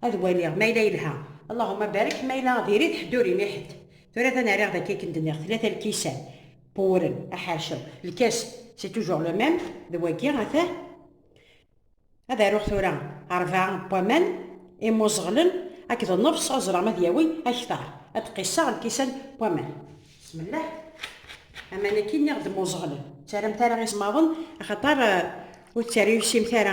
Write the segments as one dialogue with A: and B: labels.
A: Ad waliɣ ma yella yelha. Allahuma barek ma yella diri-t ḥedd ur ini ḥedd. Tura ta nariɣ daki akken d-nniɣ tlata lkisan, pwuren, aḥercel, lkas c'est toujours le même d wagi ata ad aruɣ tura rebɛa n waman imuẓeɣlen akked nnefṣ ad ẓreɣ ma ad yawi akteṛ ad d-qisseɣ lkisan n waman bismillah aman-agi nniɣ-d muẓeɣlen ttaramt ara iẓmaḍen axaṭer ur tt-rewsimt ara.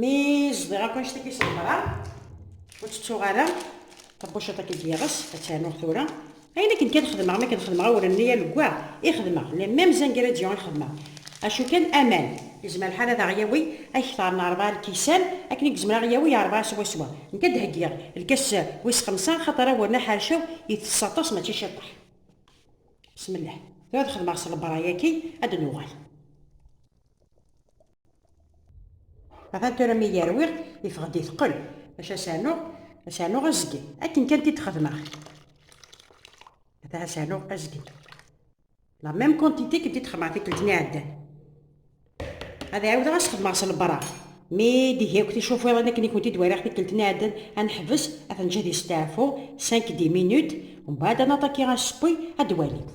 A: Mi zdiɣ akk anect agi ṣebreɣ, ur ttettuɣ ara tabuciḍt agi d-yeɣs, ad ternuɣ tura. Ayen akken kan xedmeɣ, mi akken xedmeɣ awren-nni alugwa i xedmeɣ, les mêmes ingrédients i xedmeɣ. Acu kan, aman, yezmer lḥal ad aɣ-yawi ad kter n rebɛa lkisan, akken i yezmer ad aɣ-yawi rebɛa swaswa. Nekk ad d-heggiɣ lkas wis xemsa, axaṭer awren aḥercaw itess aṭas mačči ciṭṭaḥ. Bismillah. Tura ad xedmeɣ s lebra yaki ad d-nuɣal. Atan tura mi yerwi yeffeɣ-d iteqqel acu ad s-rnuɣ ad s-rnuɣ azgen akken kan t-id-xedmeɣ atan ad s-rnuɣ azgen la mêm quantité akken t-id-xedmeɣ tikkelt n iɛeddan ad ɛiwdeɣ ad s-xedmeɣ s lebra mi d-ihi akk ticufiḍin akken i kent-id-wariɣ tikkelt n iɛeddan ad neḥbes ad ten-ǧǧi di steɛfu 5-10 minutes ومن بعد ad naṭaki asewwi ad d-walimt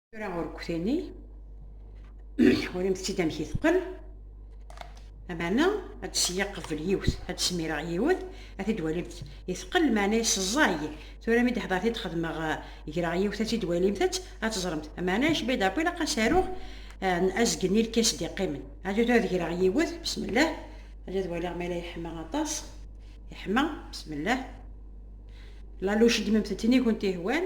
A: tura urkutini urimt-tt-id amek i teqqen amana ad seyyiɣ qbel yiwet ad smireɣ yiwet ad t-id-walimt iteqqel meɛna yesẓay tura mi d-ḥḍert id xedmeɣ eh, greɣ yiwet ad t-id-walimt ad teẓremt meɛna yecba d ilaq ad saruɣ eh, azgen i lkas d-iqqimen ad tura ad greɣ yiwet bismillah ad waliɣ ma la yeḥma aṭas yeḥma bismillah laluc ddmemt-tent i kunt ihwan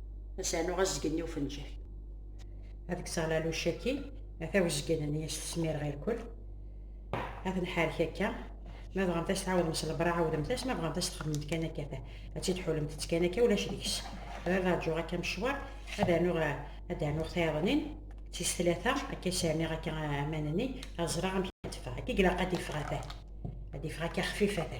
A: ad s-rnuɣ azgen i ufenǧal ad kkseɣ laluc-agi ata wezgen-nni ad s-tesmir ɣer kul ad nḥarek akka ma bɣant ad s-tɛawdemt s lebra ɛawdemt-as ma bɣant ad s-txedmemt kan akka ta ad tt-id-ḥulmemt kan akka ulac deg-s ad rǧuɣ akka mecwar ad rnuɣ ad rnuɣ tayeḍnin d tis tlata akka i s-rniɣ akka aman-nni ad ẓreɣ amek ad teffeɣ akka i ilaq ad iffeɣ ata ad iffeɣ akka xfif ata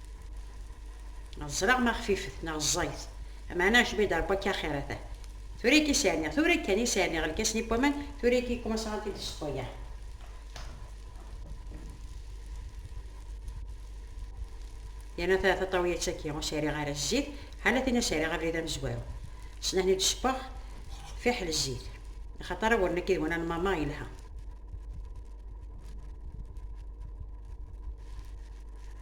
A: ẓriɣ ma xfifet neɣ ẓẓayet amaɛna acbu i d-rebba akka axir ata tura akka i s-rniɣ tura kan i s-rniɣ lkas-nni n waman tura akka i kumasaɣ ad t-id-sṭuyaɣ yerna ta taṭawiyat-agi ur s-rriɣ ara zzit ḥala tin i s-rriɣ abrid amezwaru snahni d-sewweɣ fiḥel zzit axaṭer awren akka idwan anmama yelha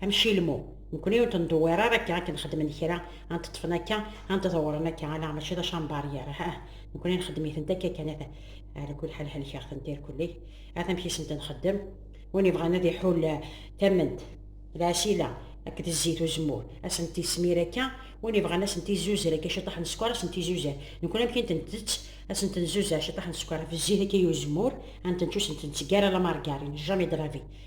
A: Amci lmu, nekkni ur t-ndewwir ara akka akken xedmen kra, ad t-ṭṭfen akka, ad t-ḍewren akka, ala mačči d acambar i yerra, ah, nekkni nxeddem-itent akka kan, at, ala kul ḥal helkeɣ-tent irkelli, at amek i sent-nxeddem, win yebɣan ad iḥul tament, lɛesila, akked zzit uzemmur, ad sent-ismir akka, win yebɣan ad sent-izuzer akka ciṭṭaḥ n sskeṛ ad sent-izuzer, nekkni amek i tent-ntett, ad sent-nzuzer ciṭṭaḥ n sskeṛ ɣef zzit akka i uzemmur, ad ntent ur sent-ntteg ara la margarine, jamais de la vie,